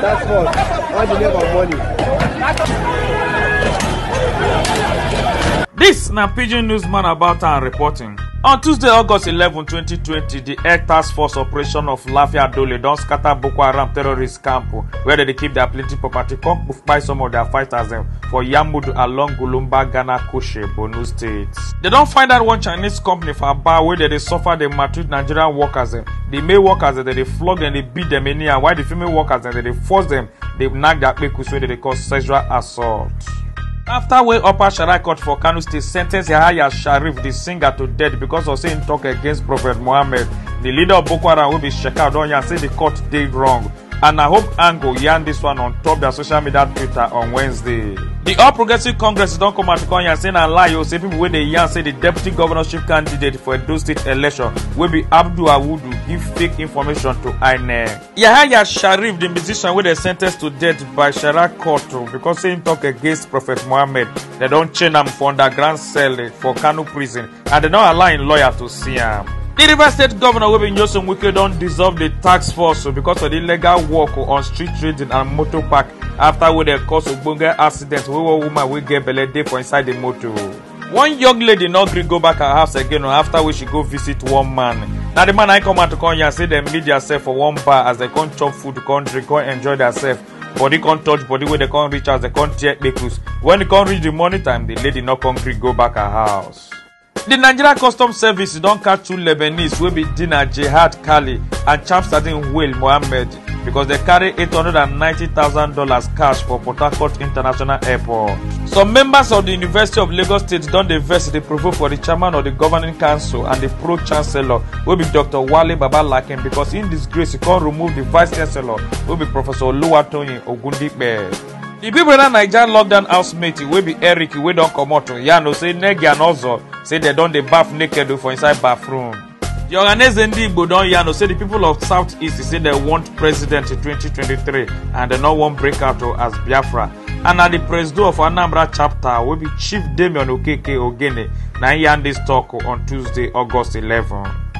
That's what. All the name of money. This na Pidgin Newsman about and reporting. On Tuesday, August 11, 2020, the Air Task Force operation of Lafia Dole don scatter Boko Haram terrorist camp where they dey keep their plenty property come buy some of their fighters dem for Yamudu along Gulumba, Ghana, Koshe, Borno State. They don find out one Chinese company for Aba wey dey dey suffer the maltreat Nigerian workers dem the male workers dem dey flog dem dey beat dem anyhow while the female workers dem dey force dem dey knack their kpekus wey dem dey call sexual assault. after wey upper sharia court for kano state sentence yahaya sharif the singer to death because of say im talk against prophet muhammed the leader of boko haram wey be shekau don yarn say the court dey wrong and na hope angle yarn dis one on top dia social media twitter on wednesday di all progressives congress don come out to come yarn say na lie o say pipo wey dey yarn say di deputy governorship candidate for edo state election wey be abdul awudu give fake information to inec yahaya sharif di musician wey dem sen ten ce to death by shara court because say im tok against prophet mohammed dem don chain am for underground cell for kano prison and dem don allow im lawyer to see am. di rivers state governor wey be nyesom wike don dissolve di tax force because of di illegal work on street trading and motor park afta wey dem cause ogbonge accident wey one woman wey get belle dey for inside di motor. one young lady no gree go back her house again o afta wey she go visit one man na di man na im come out to come yarn say dem meet diasef for one bar as dem come chop food come drink come enjoy diasef body come touch body wey dey come reach house dey come tear kpekus when e come reach the morning time the lady no come gree go back her house. di nigeria customs service don catch two lebanese wey be dina jihad kali and chamsadin huel mohammed because dem carry $890000 cash for port harcourt international airport. some members of di university of lagos state don dey vex dey provoke for di chairman of di governing council and di pro chancellor wey be dr wale babalaki because in disgrace e come remove the vice chancellor wey be professor oluwatoyin ogundipe di pipo na naija lockdown housemate wey be eric wey don comot yarn o say negi and ozo say dem don dey baff naked for inside bathroom di ohaneze ndi igbo don yarn o say di pipo of south east say dem want president in 2023 and dem no wan break out as biafra and na di presido of anambra chapter wey be chief damian okeke ogene na im yarn dis tok on tuesday august 11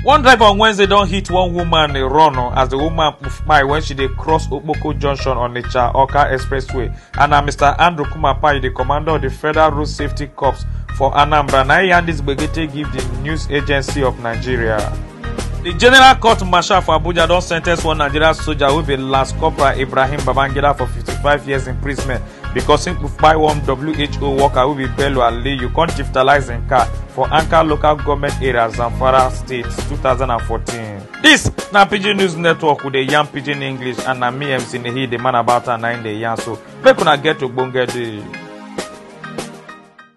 one driver on wednesday don hit one woman dey run o as di woman kpai wen she dey cross okpoko junction on onitsha oka expressway and na mr andrew kumapayi di commander of di federal road safety corps for anambra na e yarn dis gbege take give di news agency of nigeria. di general court marshal for abuja don sentence one nigerian soja wey be lance corporal ibrahim babangida for 55 years imprisonment because im kpai one who worker wey be bello aliyu come chieftalise im car for anka local goment area zamfara state 2014 dis na pidgin news network we dey yarn pidgin english and na me mc nehi dey man about am na im dey yarn so make una get ogbonge day